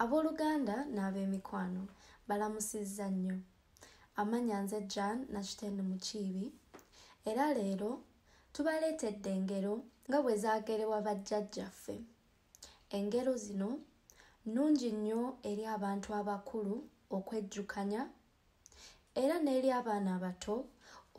abooluganda n'ab'emikwano balamusizza nnyo amanya nze jan nakitende mukiibi era leero tubaleetedde engero nga bwe zaagerebwa bajjajjaffe engero zino nnungi nnyo eri abantu abakulu okwejjukanya era n'eri abaana abato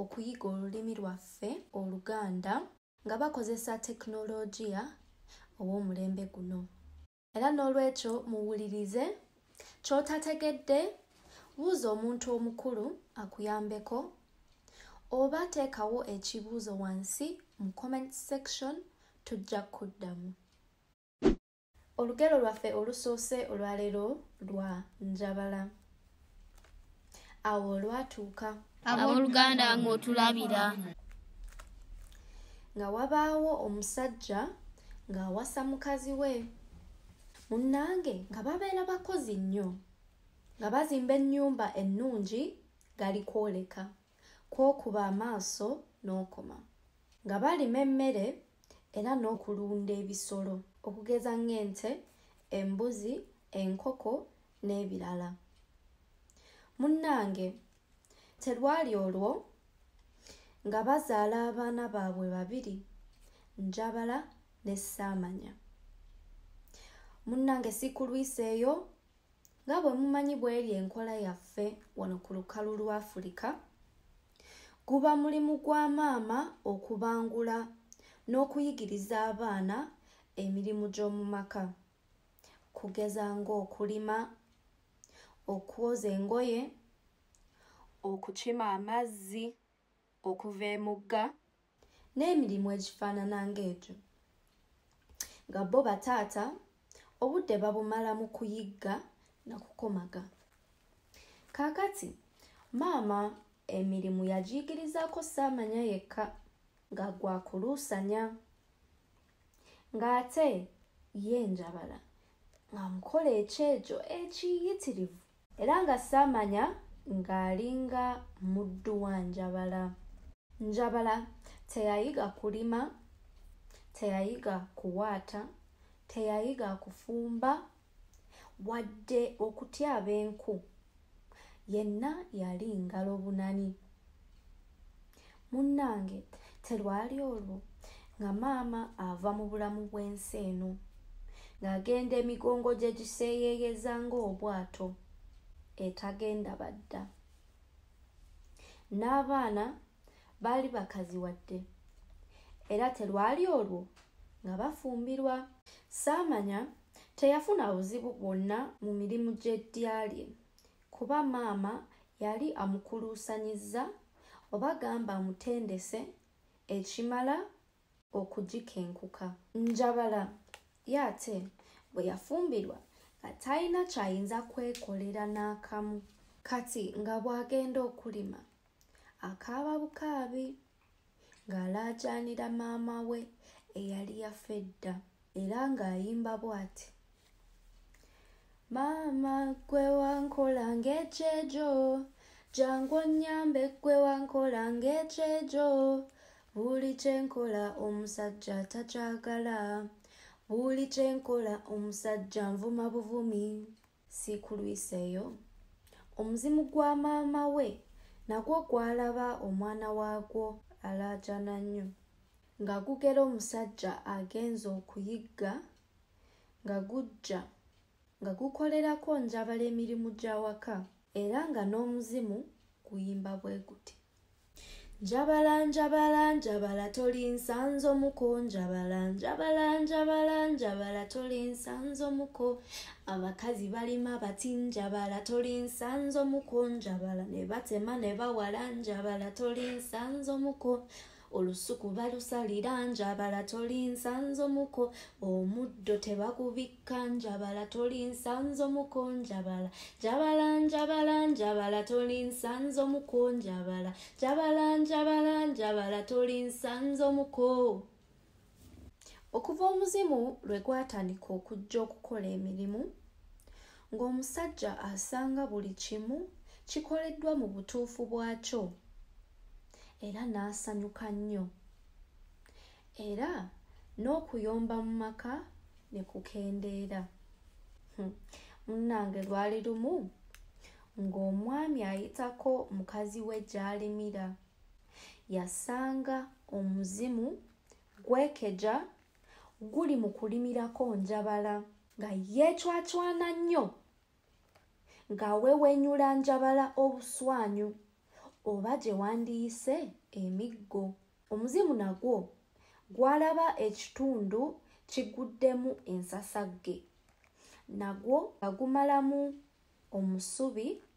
okuyiga olulimi lwaffe oluganda nga bakozesa tekinologiya ow'omulembe guno era n'olwekyo muwulirize ky'otategedde buuza omuntu omukulu akuyambeko oba teekawo ekibuuzo wansi mu comment section tujja kuddamu olugero lwaffe olusoose olwaleero lwa njabala awo olwatuuka abooluganda nga otulabira nga wabaawo omusajja ng'awasa mukazi we munnange nga babeera bakozi nnyo nga bazimba ennyumba ennungi gali kwoleka kwokuba amaaso n'okoma nga balima emmere era n'okulunda ebisolo okugeza ng'ente embuzi enkoko n'ebirala munnange terwali olwo nga bazaala abaana baabwe babiri njabala ne saamanya munnange sikulwiseeyo nga bwe mumanyi bweri enkola yaffe wano ku lukalu lwa afirika guba mulimu gwa maama okubangula n'okuyigiriza abaana emirimu gy'omu maka kugeza ng'okulima okwoza engoye okukima amazzi okuva emugga n'emirimu egifaanana ng'egyo nga bo bataata obudde babumala mu kuyigga na kukomaga kaakati maama emirimu yagiyigirizaako saamanya yekka nga gwakuluusanya ng'ate ye njabala nga mukola ekyejo ekiyitirivu era nga saamanya ng'alinga muddu wa njabala njabala teyayiga kulima teyayiga kuwaata teyayiga kufumba wadde okutyaba enku yenna yali ngalo bunani munnange terwali olwo nga maama ava mu bulamu bw'ensi eno ng'agenda emigongo gye giseeyeeyeza ng'obwato etagenda badda n'abaana baali bakazi wadde era terwali olwo nga bafumbirwa saamanya Teyafuna buzibu bwonna mu mirimu gy'eddya lye kuba maama yali amukuluusanyizza oba gamba amutendese ekimala okugikenkuka. Njabala ye ate bwe yafumbirwa nga talina ky'ayinza kwekolera n'akamu. Kati nga bw'agenda okulima akaaba bukaabi. ng'alaajaanira maama we eyali yafa edda era ng'ayimba bw'ati maama gwe wankola ng'ekyejo jangu onnyambe gwe wankola ng'ekyejo buli kye nkola omusajja takyagala buli kye nkola omusajja nvuma buvumi siikulwiseeyo omuzimu gwa maama we nagwo gwalaba omwana waagwo alaajana nnyo nga gugera omusajja agenza okuyigga nga gujja nga gukolerako njabala emirimu gy'awaka era nga n'omuzimu guyimba bwe guti njabala njabala njabala toli nsanzo muko njabala njabala njabala njabala toli nsanzo muko abakazi balima bati njabala toli nsanzo muko njabala ne batema ne bawala njabala toli nsanzo muko olusuku balusalira njabala toli nsanzo muko omuddo tebakubikka njabala toli nsanzo muko njabala njabala njabala njabala toli nsanzo muko njabala njabala njabala njabala toli nsanzo muko okuva omuzimu lwe gwatandika okujja okukola emirimu ng'omusajja asanga buli kimu kikoleddwa mu butuufu bwakyo era n'asanyuka nnyo era n'okuyomba mu maka ne kukendeera hmm. munnange lwali lumu ng'omwami ayitako mukazi we gy'alimira yasanga omuzimu gwekeja guli mu kulimirako njabala nga yeecwacwana nnyo ng'awewenyula njabala obuswanyu oba gye wandiyise emiggo omuzimu nagwo gwalaba ekitundu kiguddemu ensasagge nagwo nga gumalamu omusubi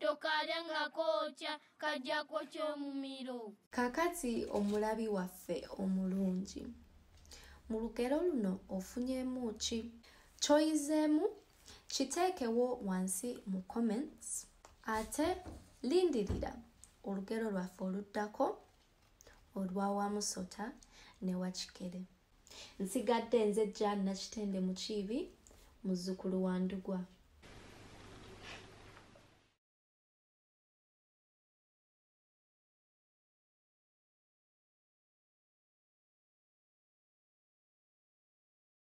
tokalya nga kookya kajja kwokya omumiro kakati omulabi waffe omulungi mu lugero luno ofunyemu ki kyoyizeemu kiteekewo wansi mu comments ate lindirira olugero lwaffe oluddako olwa wamusota ne wakikere nsigadde nze jan nakitende mukiibi muzzukulu wa ndugwa